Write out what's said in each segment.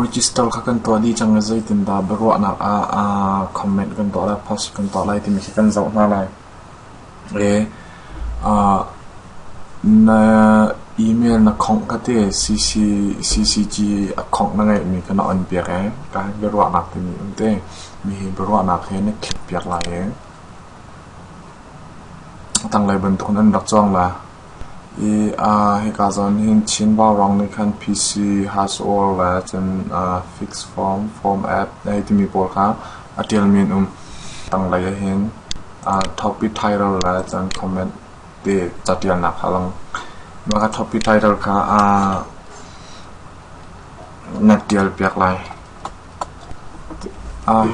Register kha kan tuah dih cang i zeitindah biaruahnak ah comment kan tuah lai, post kan tuah lai timi khi kan zoh hna lai. Na email na khongh ka ti CCG a khongh na ngeihmi ka na on piak i ka biaruahnak timi an ti. Mi hi biaruahnak he na click piak lai i A tanglei bantukin an rak cawng la i hika zawn nih hin Chin Vaurang nih khan PC Haswell le cun Fixed Form, Form App hei timi pawl kha a ṭialmi an um. Tanglei ah hin Topi Title le cun comment te caṭialnak kha a lang. Mah ka Topi Title kha na ṭialpiak lai.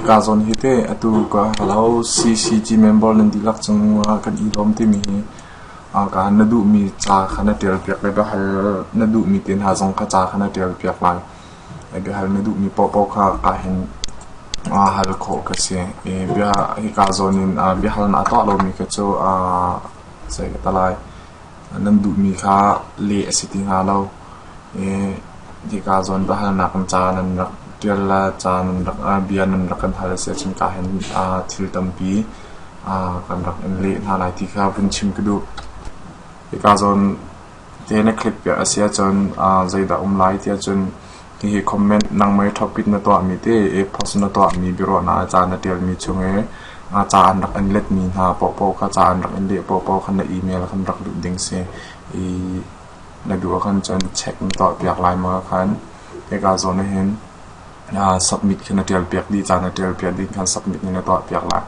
Kaa zawn hi teh atu ka ka lo CCG member nan dihlak cung ah kan i lawm timi hi ka han na duhmi ca kha na ṭialpiak le biahal na duhmi te hna zong kha ca kha na ṭialpiak lai. Biahal na duhmi paohpaoh kha kaa hin hal khawh ka si. Hi kaa zawn in biahal naa tuah lomi kha cu zei ka tah lai? nan duhmi kha leh a si ti hnga lo. Hika zawn biahalnak kan ca nan rak ṭial le ca nan rak bia nan rak kan hal a si ahcun kaa hin thil tampi kan rak in leh hna lai ti kha vun chim ka duh. Hika zawn te na click piak a si ahcun zeidah um lai ti ahcun Hihi comment nangmah thawkpit na tuahmi te e-post na tuahmi biaruahnak ah ca na ṭialmi chung i nga ca an rak in letmi hna paohpaoh kha ca an rak in leh paohpaoh kha na email ah khan rak luh ding si i na duh ah khan cun check na tuahpiak lai ma khan hika zawn ah hin aa submit khi na ṭialpiak dih ca na ṭialpiak dih khan submit in na tuahpiak lai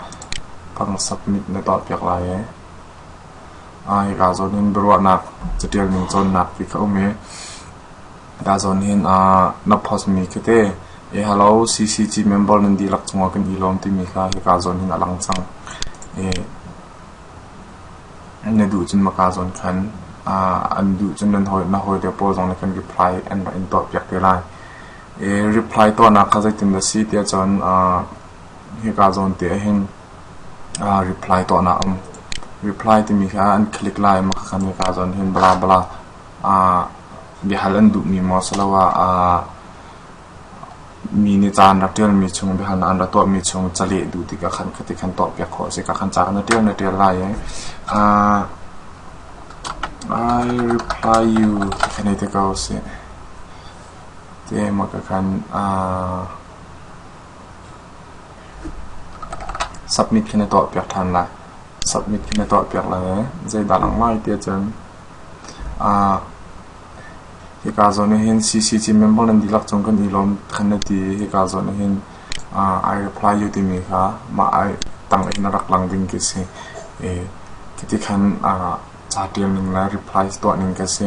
phang submit na tuahpiak lai i aa hika zawn hin biaruahnak caṭial ning cawnnak ti kha um i Tahzawn hin ah na post mi khi te "E hello CCG member nan dihlak cungah kan i lawm" timi kha hika zawn hin a lang cang. I na duh cun maka zawn khan an duh cun nan hawi na hawi le pawl zong nih kan reply an rak in tuah piak te lai. I reply tuahnak kha zeitin dah si tiah cun hika zawn te ah hin reply tuahnak a um. Reply timi kha an click lai maka khan hika zawn hin bla bla ah biahal an duhmi maw asiloah ah mi nih ca an rak ṭialmi chung biahalnak an rak tuahmi chung ca leh duh tikah khan khati khan tuahpiak khawh a si. Ka khan ca na ṭial na ṭial lai i ah I reply you ka khan ei te ko sih. Ti emaw ka khan ah submit khi na tuahpiak ṭhan lai. Submit khi na tuahpiak lai i zeidah langmai ti ahcun Hika zawn ah hin CCC member nan dihlak cung kan i lawm kan na ti i hika zawn ah hin I reply u timi kha mah I tang in a rak lang ding khi a si. Hiti khan ca tial ning le replies tuah ning khi a si.